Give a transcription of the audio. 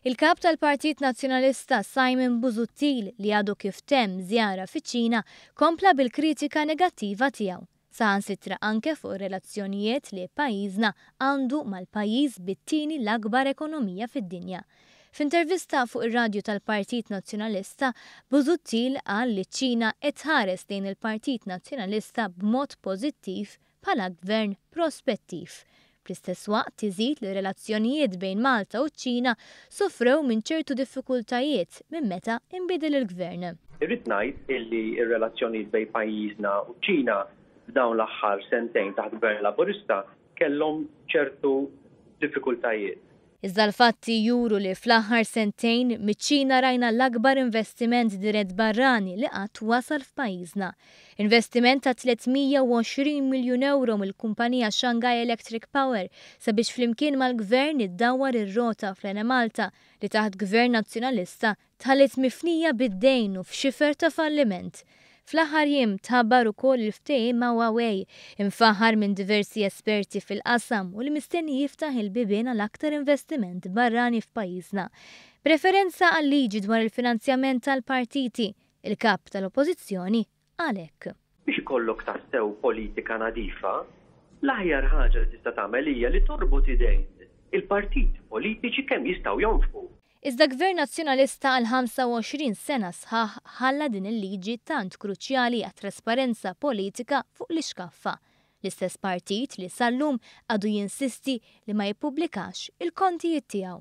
Il-Kap tal-Partit Nazzjonalista Simon Busuttil li għadu kif temm żjara fiċ-Ċina kompla bil-kritika negattiva tiegħu, saħansitra anke fuq ir-relazzjonijiet li pajjiżna għandu mal-pajjiż bit-tieni l-akbar ekonomija fid-dinja. F'intervista fuq ir-radju tal-Partit Nazzjonalista, Busuttil qal li ċ-Ċina qed tħares lejn il-Partit Nazzjonalista b'mod pożittiv bħala gvern prospettiv. Fl-istess waqt iżid li r-relazzjonijiet bejn Malta u ċ-Ċina sofrew minn ċertu diffikultajiet minn meta inbidel il-gvern. Irrid ngħid illi r-relazzjonijiet bejn pajjiżna u ċ-Ċina f'dawn l-aħħar sentejn taħt gvern Laburista kellhom ċertu diffikultajiet. Iżda l-fatti juru li fl-aħħar sentejn, miċ-Ċina rajna l-akbar investiment dirett barrani li qatt wasal f'pajjiżna. Investiment ta' 320 miljun ewro mill-kumpanija Shanghai Electric Power sabiex flimkien mal-Gvern iddawwar ir-rota fl-Enemalta li taħt Gvern Nazzjonalista dħalet mifnija bid-dejn u f'xifer ta' falliment. Fl-aħħar jiem tħabbar ukoll il-ftehim ma' Huawei, imfaħħar minn diversi esperti fil-qasam u li mistenni jiftaħ il-bibien għal aktar investiment barrani f'pajjiżna. B'referenza għal-liġi dwar il-finanzjament tal-partiti, il-Kap tal-Oppożizzjoni, Għalhekk. Biex ikollok tassew politika nadifa, l-aħjar ħaġa li tista' tagħmel hija li torbot idejn il-partiti politiċi kemm jistgħu jonfqu. Iżda Gvern Nazzjonalista għal 25 sena sħaħ ħalla din il-liġi tant kruċjali għat-trasparenza politika fuq l-ixkaffa. L-istess partit li sal-lum għadu jinsisti li ma jippubblikax il-kontijiet tiegħu.